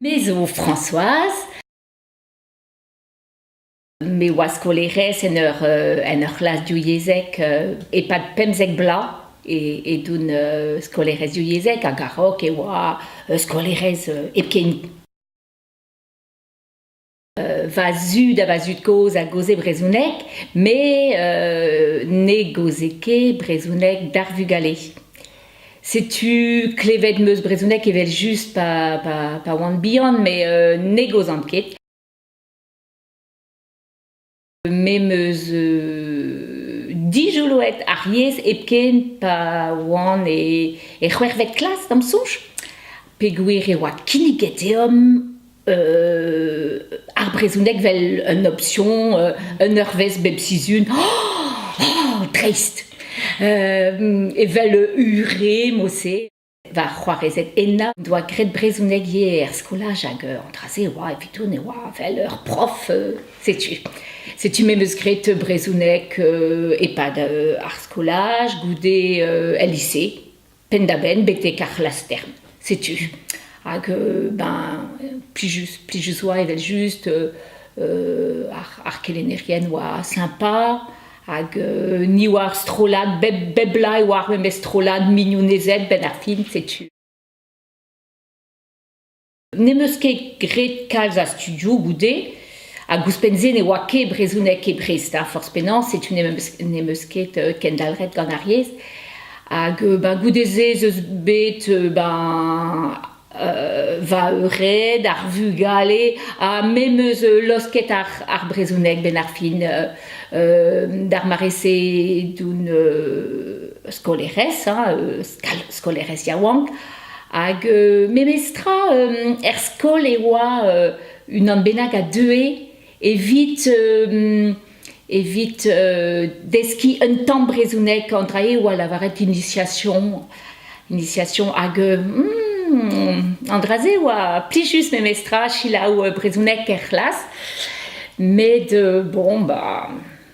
Me zo Françoise, me oa skolaerez en ur en ur c'hlas div yezheg e-pad pemzek bloaz edon skolaerez div yezheg hag a-raok e oa skolaerez hepken. va zud ha va zud-kozh a gaoze brezhoneg, met ne gaoze ket brezhoneg d'ar vugale. Setu klevet 'm eus brezhoneg evel-just pa, pa, pa oan bihan, met ne gaozan ket. Me 'meus dijoloet ar yezh hepken pa oan e c'hwec'hvet klas da'm soñj peogwir e oa kinniget deomp ar brezhoneg 'vel un opsion un eurvezh bep sizhun dreist evel ure mod-se. Va c'hoarezed henañ o doa graet brezhoneg ivez er skolaj hag an dra-se e oa evito ne oa evel ur prof setu setu me 'meus graet brezhoneg e-pad ar skolaj goude el lise penn-da-benn betek ar c'hlaster setu hag ben plijus plijus oa evel-just ar kelennerien oa sympa Hag ni oa ar strollad, bep, bep bloaz e oa ar memes strollad mignonezed benn ar fin, setu. N'em eus ket graet kalz a studioù goude, hag ouzhpenn-se ne oa ket brezhoneg ket Brest, ha forzh penaos, setu n'em eus, n'em eus ket kendalc'het gant ar yezh. Hag ben goude-se ez eus bet ben va eured, ar vugale, ha me 'meus laosket ar, ar brezhoneg 'benn ar fin d'ar mare-se d'un skolaerez, hein, skolaerez yaouank, hag memestra er skol e oa unan bennak a deue evit evit deskiñ un tamm brezhoneg an dra eo a lavaret initiation initiation hag an dra-se oa plijus memestra selaou brezhoneg er c'hlas met bon ba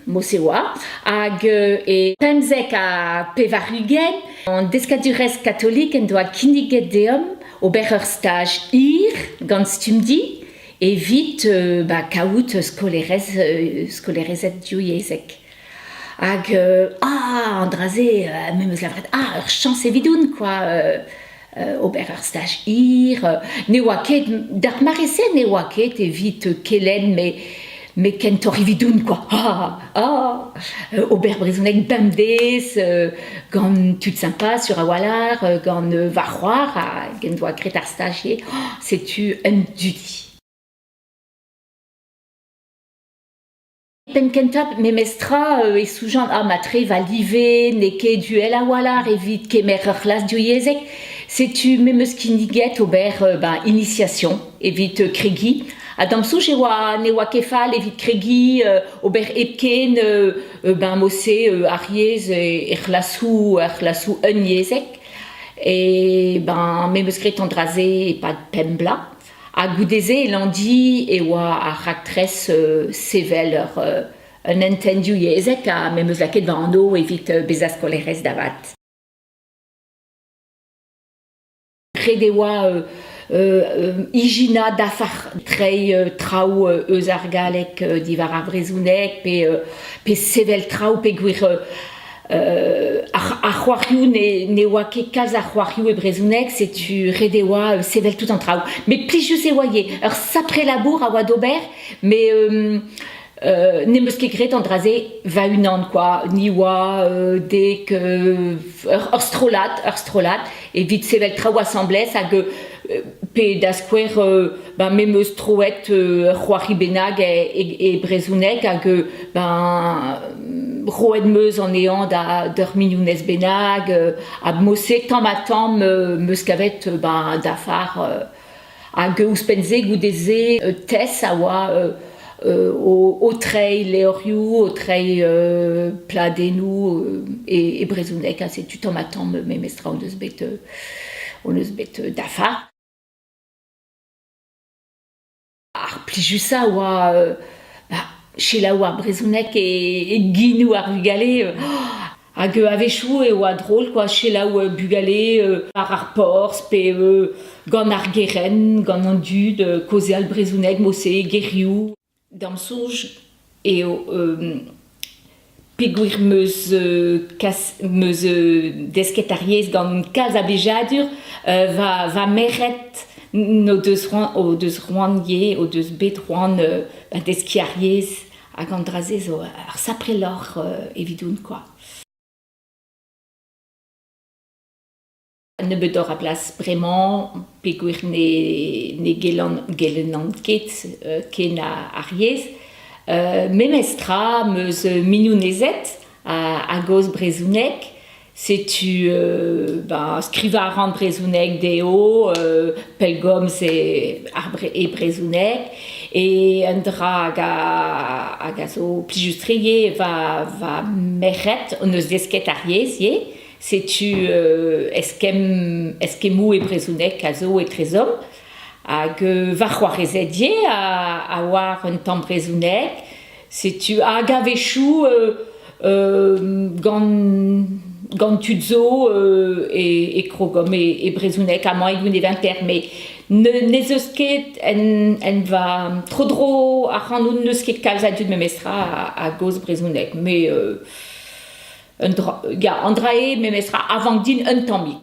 Mosewa, hag e pemzek ha pevar-ugent an deskadurezh katolik en doa kinniget deomp ober ur staj hir gant Stumdi evit ba, kaout skolaerez, skolaerezed divyezhek. Hag ah, an dra-se me 'm eus labouret, ah, ur chañs evidoun, quoi! ober ar staj hir. Ne oa ket, d'ar mare-se ne oa ket evit kelenn, me me kentoc'h evidoun, quoi. Ah, ah, euh, ober brezhoneg bemdez euh, gant tud sympa sur a-walc'h, euh, gant va c'hoar hag en doa graet ar stagier. Oh, setu un dudi. Penn-kentañ memestra e soujan ar matre va live n'eo ket uhel a-walc'h evit kemer ur c'hlas divyezhek. Setu me'm eus kinniget ober ba initiation evit kregiñ ha da'm soñj e oa ne oa ket fall evit kregiñ ober hepken ba mod-se ar yezh er c'hlasoù er c'hlasoù unnyezhek. E ben me 'm eus graet an dra-se e-pad pemp bloaz. ha goude-se e Landy e oa ar raktres sevel ur un hentenn divyezhek ha me 'meus lakaet va anv evit bezañ skolaerez davat. Ret e oa ijinañ dafar treiñ traoù eus ar galleg diwar ar brezhoneg pe pe sevel traoù peogwir ar c'hoarioù ne oa ket kalz a c'hoarioù e brezhoneg, setu ret e oa sevel tout an traoù. Mais plijus e oa ur sapre labour a oa d'ober, mais euh, n'em eus ket graet an dra-se va-unan, quoi. Ni oa euh, dek euh, ur, strollad, ur strollad, evit sevel traoù asambles hag pe da skouer ben me meus troet ur c'hoari bennak e, brezhoneg hag ben roet meus anezhañ d'ur mignonez bennak ha mose tamm ha tamm meus kavet ben dafar Hag ouzhpenn-se, goude-se, Tess a oa o, treiñ levrioù, o treiñ pladennoù e, brezhoneg. Ha setu tamm-ha-tamm memestra on eus bet, on eus bet dafa. Ar plijusañ a oa selaou ar brezhoneg e, e ginoù ar vugale. Hag a-wechoù e oa drol kwa selaou bugale war ar porzh pe gant ar gerent, gant an dud kaozeal brezhoneg mod-se, gerioù. Da'm soñj eo peogwir 'm eus kas m eus desket ar yezh gant kalz a blijadur va va merc'hed n'o deus c'hoant o deus c'hoant ivez o deus bet c'hoant deskiñ ar yezh Hag an dra-se zo ar sapre lorc'h evidoun kwa. Nebeutoc'h a blas bremañ peogwir ne ne gelan gelennan ket ken ar yez. Memestra 'm eus mignonezed a gozh brezhoneg. Setu ba skrivañ a ran brezhoneg dezho, pellgomz e brezhoneg e un dra hag a hag a zo plijus-tre ivez va va merc'hed hon eus desket ar yezh ivez. Setu eskemm eskemmoù e brezhoneg a zo etrezomp hag va c'hoarezed ivez a a oar un tamm brezhoneg. Setu hag a-wechoù gant gant tud zo e, e krogom e, e brezhoneg amañ e Gwineventer met ne, n'ez eus ket en, en va tro-dro ac'hanout n'eus ket kalz a dud memestra a-gozh brezhoneg met euh, un dra, ya, an dra eo memestra avant din un tammig.